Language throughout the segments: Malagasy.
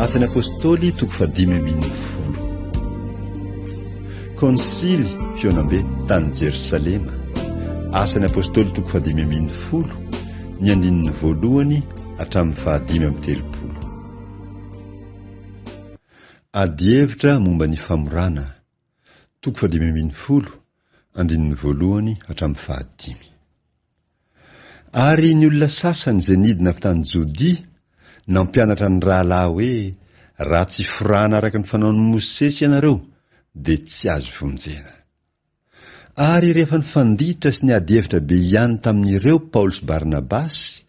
Asan'ny Apôstôly toko fahadimy ambin'ny folo. Kônsily fihaonambe tany Jerosalema. Asan'ny Apôstôly toko fahadimy ambin'ny folo, ny andininy voalohany hatramin'ny fahadimy amby telopolo. Adihevitra momba ny famorana, Toko fahadimy ambin'ny folo, andininy voalohany hatramin'ny fahadimy. Ary ny olona sasany izay nidina avy tany Jodia nampianatra ny rahalahy hoe, Raha tsy forahana araka ny fanaon'i Mosesy ianareo, dia tsy azo vonjena. Ary rehefa nifanditra sy niady hevitra be hiany tamin'ireo Paoly sy Barnabasy,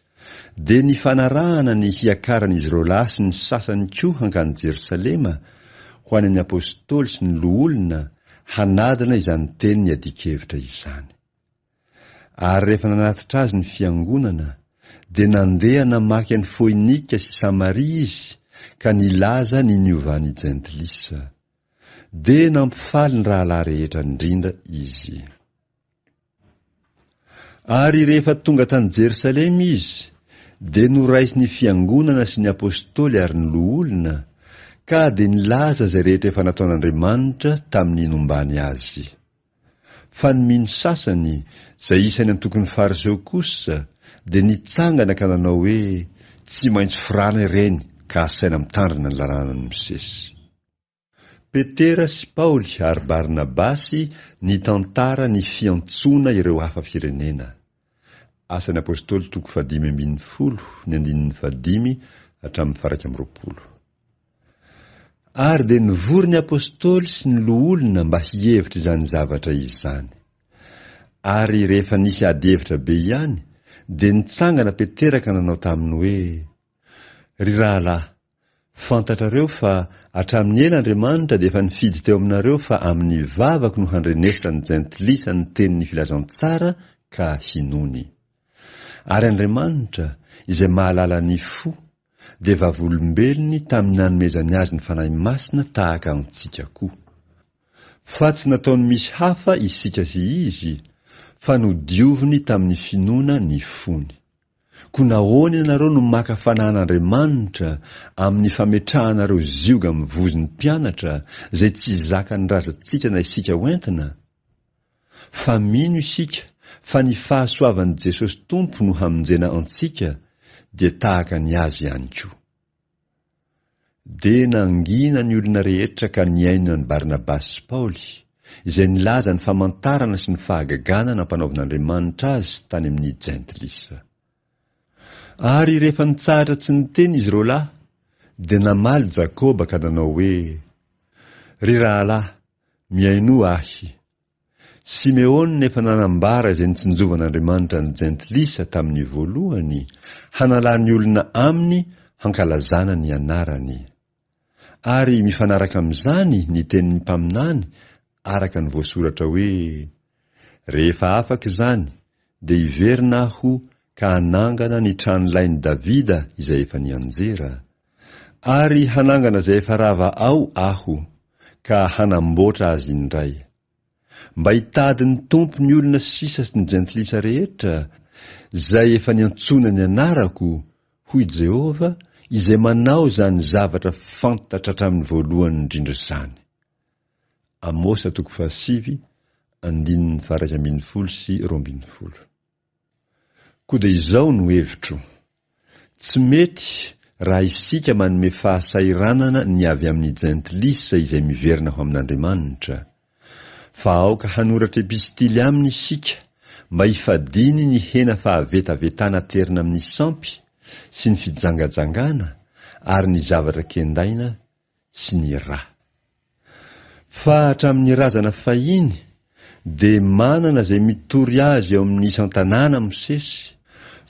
Dia nifanarahana ny hiakaran'izy ireo lahy sy ny sasany koa hankany Jerosalema, ho any amin'ny Apôstôly sy ny Loholona, hanadina izany teny niadian-kevitra izany. Ary rehefa nanatitra azy ny fiangonana, dia nandeha namaky an'i Foinika sy Samaria izy ka nilaza ny niovan'ny Jentilisa. Dia nampifaly ny rahalahy rehetra indrindra izy. Ary rehefa tonga tany Jerosalema izy, dia noraisin'ny fiangonana sy ny apostoly ary ny loholona, ka dia nilaza izay rehetra efa nataon'Andriamanitra tamin'ny nombany azy. Fa ny mino sasany, izay isan'ny antokon'ny Fariseo kosa, dia nitsangana ka nanao hoe, Tsy maintsy firana ireny ka asaina mitandrina ny lalànan'i Mosesy. Petera sy Paoly ary Barnabasy nitantara ny fiantsoana ireo hafa firenena. Asan'ny Apôstôly toko fahadimy ambin'ny folo, ny andininy fahadimy hatramin'ny faharaika amby roapolo. Ary dia nivory ny Apôstôly sy ny loholona mba hihevitra izany zavatra izany. Ary rehefa nisy adihevitra be ihany, dia nitsangana Petera ka nanao taminy hoe, Ry rahalahy, Fantatrareo fa hatramin'ny ela Andriamanitra dia efa nifidy teo aminareo fa amin'ny vavako no handrenesan'ny jentilisa ny tenin'ny filazantsara ka hinoany. Ary Andriamanitra, izay mahalala ny fo, dia vavolombelony tamin'ny nanomezany azy ny Fanahy Masina tahaka antsika koa. Fa tsy nataony misy hafa isika sy izy, fa nodioviny tamin'ny finoana ny fony. Koa nahoana ianareo no maka fanahin'Andriamanitra amin'ny fametrahanareo zioga mivozo ny mpianatra izay tsy zakan'ny razantsika na isika ho entina? Fa mino isika fa ny fahasoavan'i Jesosy Tompo no hamonjena antsika dia tahaka ny Azy ihany koa. Dia nangina ny olona rehetra ka nihaino an'i Barnabasy sy Paoly, izay nilaza ny famantarana sy ny fahagagana nampanaovin'Andriamanitra azy tany amin'ny Jentilisa. Ary rehefa nitsahatra tsy niteny izy roa lahy, dia namaly Jakoba ka nanao hoe, Ry rahalahy, mihainoa ahy, Simeona efa nanambara izay nitsinjovan'Andriamanitra ny Jentilisa tamin'ny voalohany, hanalany olona aminy hankalazana ny anarany. Ary mifanaraka amin'izany ny tenin'ny mpaminany araka ny voasoratra hoe, Rehefa afaka izany, dia hiverina aho ka hanangana ny tranolain'i Davida izay efa nianjera, Ary hanangana izay efa rava ao Aho, ka hanamboatra azy indray. Mba hitady ny Tompo ny olona sisa sy ny Jentilisa rehetra, izay efa niantsoina ny anarako, hoy Jehovah, izay manao izany zavatra fantatra hatramin'ny voalohany indrindra izany. Amosa toko fahasivy, andininy faha iraika ambin'ny folo sy roa ambin'ny folo. Koa dia izao no hevitro. Tsy mety raha isika manome fahasahiranana ny avy amin'ny Jentilisa izay miverina ho amin'Andriamanitra. Fa aoka hanoratra epistily aminy isika mba hifadiany ny hena fahavetavetana aterina amin'ny sampy sy ny fijangajangana ary ny zavatra kendaina sy ny ra. Fa hatramin'ny razana fahiny dia manana izay mitory azy eo amin'ny isan-tanàna Mosesy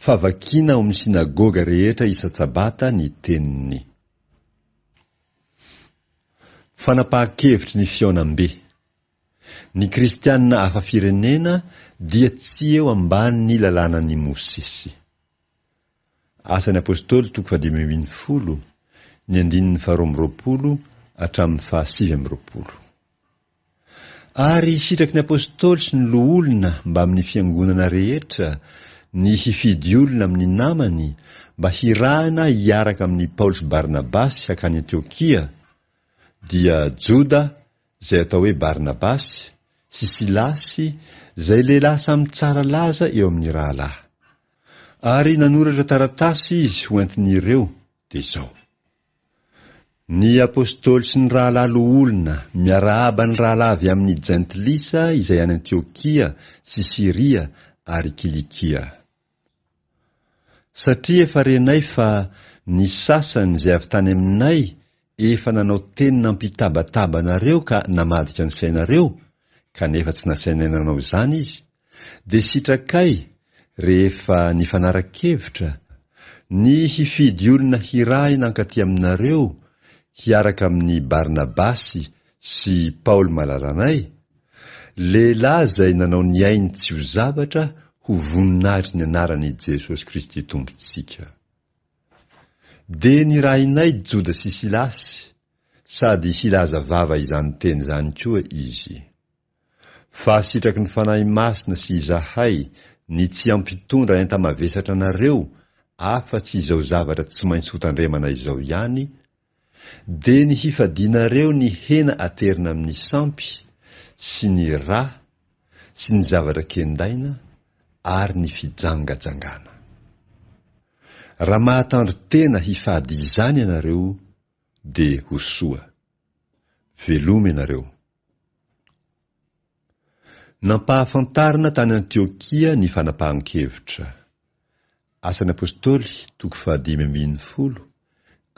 fa vakiana ao amin'ny synagoga rehetra isan-tsabata ny teniny. Fanapahan-kevitry ny fihaonambe. Ny kristiana hafa firenena dia tsy eo ambanin'ny lalànan'i Mosesy. Asan'ny Apôstôly toko fahadimy ambin'ny folo, ny andininy faharoa amby roapolo hatramin'ny fahasivy amby roapolo. Ary sitraky ny Apôstôly sy ny loholona mbamin'ny fiangonana rehetra ny hifidy olona amin'ny namany mba hirahina hiaraka amin'i Paoly sy Barnabasy hakany Antiokia, dia Joda izay atao hoe Barnabasy, sy Silasy, izay lehilahy samy tsara laza eo amin'ny rahalahy. ary nanoratra taratasy izy ho antin'ireo, dia izao, Ny Apostoly sy ny rahalahy loholona miarahaba ny rahalahy avy amin'ny Jentilisa izay any Antiokia sy Siria ary Kilikia. Satria efa renay fa ny sasany izay avy tany aminay efa nanao teny nampitabataba anareo ka namadika ny sainareo, kanefa tsy nasainay nanao izany izy, dia sitrakay rehefa nifanara-kevitra ny hifidy olona hirahina hankaty aminareo hiaraka amin'i Barnabasy sy Paoly malalanay, lehilahy izay nanao ny ainy tsy ho zavatra ho voninahitry ny anaran'i Jesosy Kristy Tompontsika. Dia nirahinay Joda sy Silasy, sady hilaza vava izany teny izany koa izy. Fa sitraky ny Fanahy Masina sy izahay ny tsy hampitondra enta-mavesatra anareo afa-tsy izao zavatra tsy maintsy hotandremana izao ihany, dia ny hifadianareo ny hena aterina amin'ny sampy, sy ny rà, sy ny zavatra kendaina, ary ny fijangajangana. Raha mahatandro tena hifady izany ianareo, dia ho soa. Veloma ianareo. Nampahafantarina tany Antiokia ny fanapahan-kevitra. Asan'ny Apôstôly, toko fahadimy ambin'ny folo,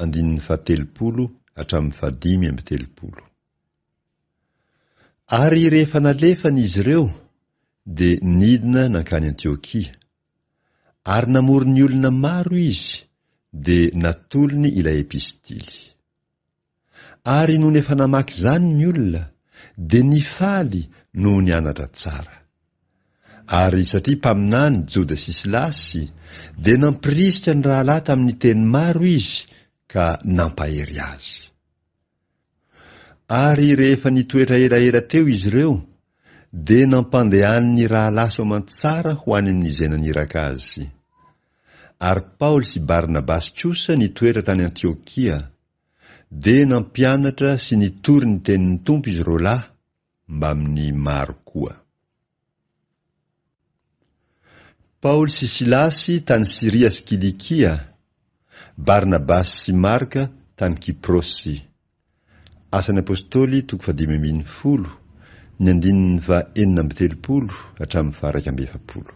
andininy fahatelopolo hatramin'ny fahadimy amby telopolo. Ary rehefa nalefany izy ireo, dia nidina nankany Antiokia. Ary namory ny olona maro izy, dia natolony ilay epistily. Ary nony efa namaky izany ny olona dia nifaly noho ny anatra tsara. Ary satria mpaminany Joda sy Silasy dia nampirisika ny rahalahy tamin'ny teny maro izy ka nampahery azy. Ary rehefa nitoetra elaela teo izy ireo dia nampandehany ny rahalahy soamantsara ho any amin'izay naniraka azy. Ary Paoly sy Barnabasy kosa nitoetra tany Antiokia. Dia nampianatra sy nitory ny tenin'ny Tompo izy roalahy mbamin'ny maro koa. Paoly sy Silasy tany Syria sy Kilikia, Barnabasy sy Marka tany Kiprosy. Asan'ny Apostoly toko fahadimy ambin'ny folo, ny andininy faha enina amby telopolo hatramin'ny faha iraika amby efapolo.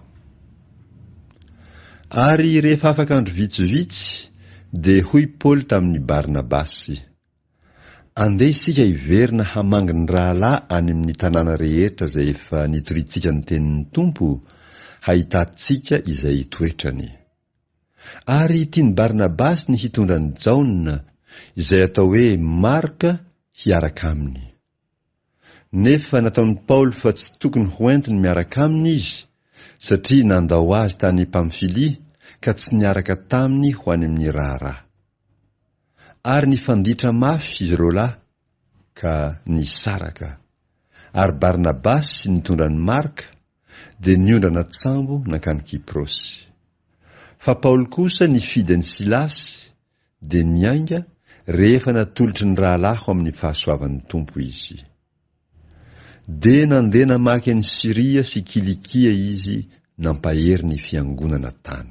Ary rehefa afaka andro vitsivitsy, dia hoy Paoly tamin' i Barnabasy, Andeha isika hiverina hamangy ny rahalahy any amin' ny tanàna rehetra izay efa nitoriantsika ny tenin' ny Tompo, hahitantsika izay hitoetrany. Ary tian' i Barnabasy ny hitondra an' i Jaona, izay atao hoe Marka, hiaraka aminy. Nefa nataon'i Paoly fa tsy tokony hoentiny miaraka aminy izy, satria nandao azy tany Pamfilia ka tsy niaraka taminy ho any amin'ny raharaha. Ary nifanditra mafy izy ireo lahy, ka nisaraka. Ary Barnabasy, nitondra an'i Marka, dia niondrana an-tsambo nankany Kyprosy. Fa Paoly kosa nifidy an'i Silasy, Dia niainga rehefa natolotry ny rahalahiko amin'ny fahasoavan'ny Tompo izy. Dia nandeha namaky an'i Syria sy Kilikia izy nampahery ny Fiangonana tany.